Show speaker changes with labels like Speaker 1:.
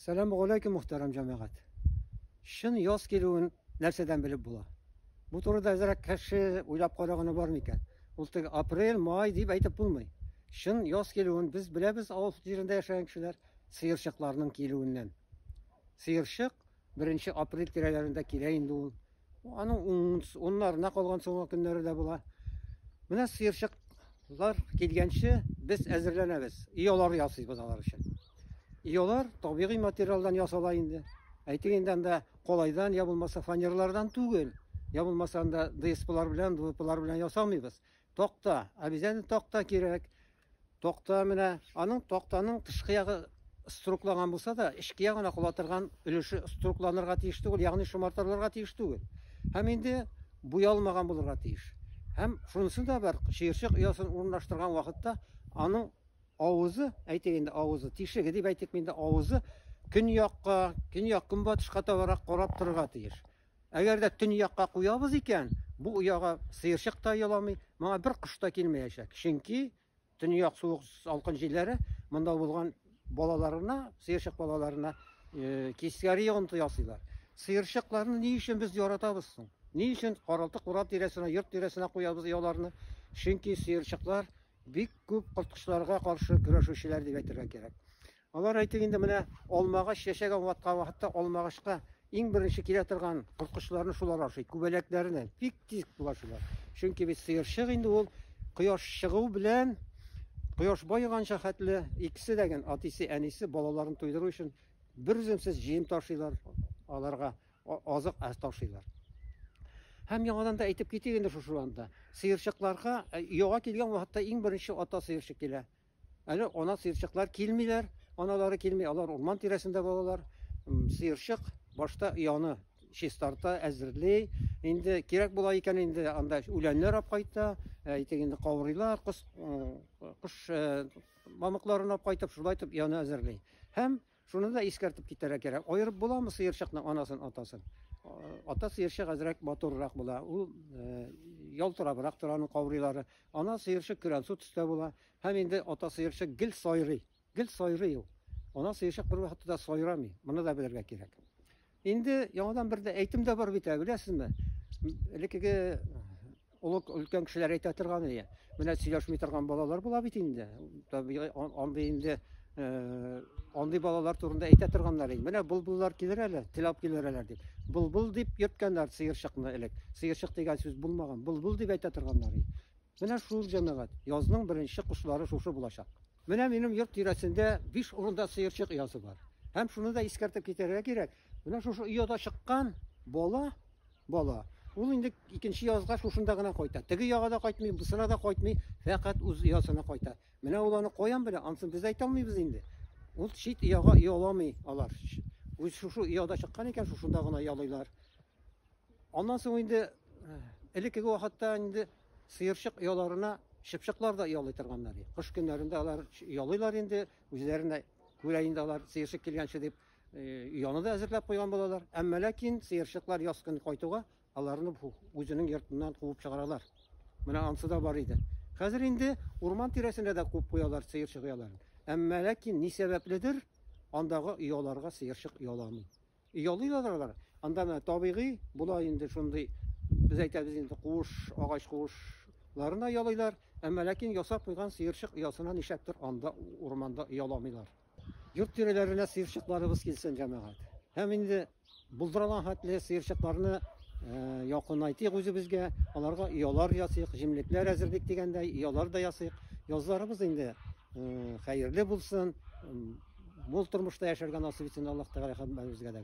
Speaker 1: Сәлам галәйкүм мөхтәрәм җәмәгать! Чын яз килүен нәрсәдән белеп була? Бу турыда әзрәк кеше уйлап караганы бармы икән? Ул теге апрель, май дип әйтеп булмый. Чын яз килүен без беләбез авыл җирендә яшәгән кешеләр сыерчыкларның килүеннән. Сыерчык беренче апрель тирәләрендә килә инде ул. Аның унс- уннарына калган соңгы көннәре дә була. Менә сыерчыклар килгәнче без әзерләнәбез. Оялар ясыйбыз алар өчен. Оялар табигый материалдан ясала инде. Әйтик инде анда калайдан я булмаса фанерлардан түгел, я булмаса анда ДСПлар белән, ДВПлар белән ясамыйбыз. Такта, обязательно такта кирәк. Такта менә аның тактаның тышкы ягы струкланган булса да, эчке ягына кала торган өлеше струкланырга тиеш түгел, ягъни шомартылырга тиеш түгел. Һәм инде буялмаган булырга тиеш. Һәм шунысы да бар, чыерчык оясын урынлаштырган вакытта аның авызы, әйтик инде авызы, тишеге дип әйтик инде, авызы көньякка, көньяк-көнбатышка табарак карап торырга тиеш. Әгәр дә төньякка куябыз икән, бу ояга сыерчык та еламый, моңа бер кош та килмәячәк. Чөнки төньяк суык салкын җилләре монда булган балаларына, сыерчык балаларына э, тискәре йогынты ясыйлар. Сыерчыкларны ни өчен без яратабыз соң? Ни өчен каралты курап тирәсенә, йорт тирәсенә куябыз ояларны? Чөнки сыерчыклар бик күп корткычларга каршы көрәшүчеләр дип әйтергә кирәк. Алар, әйтик инде, менә алмагач яшәгән ваткан вакытта алмагачка иң беренче килә торган корткычларны шулар ашый, күбәләкләрне. Бик тиз булашалар. Чөнки бит сыерчык инде ул кояш чыгу белән кояш байыганча хәтле икесе дә ген атисе, әнисе балаларын туйдыру өчен бер үземсез җыен ташыйлар, аларга азык ташыйлар. Һәм яңадан да әйтеп китик инде шушы анда. Сыерчыкларга яга килгән вакытта иң беренче ата сыерчык килә. Әле ана сыерчыклар килмиләр, аналары килми, алар урман тирәсендә булалар. Сыерчык башта яны чистарта, әзерли. Инде кирәк була икән, инде анда үләннәр ап кайта, әйтик инде каурыйлар, кош мамыкларын ап кайтып, шулай итеп яны әзерли. Һәм Шуны да искәртеп китәргә кирәк, аерып буламы сыерчыкның анасын, атасын? Ата сыерчык әзрәк матуррак була, ул ялтырабрак тора аның каурыйлары. Ана сыерчык көрәнсу төстә була һәм инде ата сыерчык гел сайрый, гел сайрый ул. Ана сыерчык бервакытта да сайрамый, моны да белергә кирәк. Инде яңадан бер дә әйтем дә бар бит, ә, беләсезме? М, Элеккеге олы өлкән кешеләр әйтә торган ие. Менә сөйләшми торган балалар була бит инде. Табигый ан- андый инде э, андый балалар турында әйтә торганнар инде. Менә булбуллар килер әле, теләп килер әле дип. Булбул дип йөрткәннәр сыерчыкны элек. Сыерчык дигән сүз булмаган. Булбул дип әйтә торганнар инде. Менә шул җәмәгать. Язның беренче кошлары шушы булачак. Менә минем йорт тирәсендә биш урында сыерчык оясы бар. Һәм шуны да искәртеп китәргә кирәк, менә шушы ояда чыккан бала, бала, ул инде икенче язга шушында гына кайта. Теге яга да кайтмый, бусына да кайтмый, фәкать үз оясына кайта. Менә ул аны каян белә, ансын без әйтә алмыйбыз инде. Ул чит ояга ояламый алар. Үз шушы ояда чыккан икән, шушында гына ялыйлар. Аннан соң инде элеккеге вакытта инде сыерчык ояларына чыпчыклар да оялый торганнар. Кыш көннәрендә алар оялыйлар инде, үзләренә күрә инде алар сыерчык килгәнче дип ояны да әзерләп куйган булалар. Әмма ләкин сыерчыклар яз көн кайтуга аларны үзенең йортыннан куып чыгаралар. Менә ансы да бар иде. Хәзер инде урман тирәсендә дә күп куялар сыерчык ояларын. Әмма ләкин ни сәбәпледер андагы ояларга сыерчык ояламый. Ялыйлар алар. Анда менә табигый була инде шундый, без әйтәбез инде, куыш, агач куышларына ялыйлар. Әмма ләкин ясап куйган сыерчык оясына нишләптер анда урманда ояламыйлар. Йорт тирәләренә сыерчыкларыбыз килсен, җәмәгать. Һәм инде булдыралган хәтле сыерчыкларны якынайтыйк үзебезгә, аларга оялар ясыйк, җимлекләр әзерлик дигәндәй, оялар да ясыйк. Язларыбыз инде Хәерле булсын, мул тормышта яшәргә насыйп итсен Аллаһ Тәгалә һәммәбезгә дә.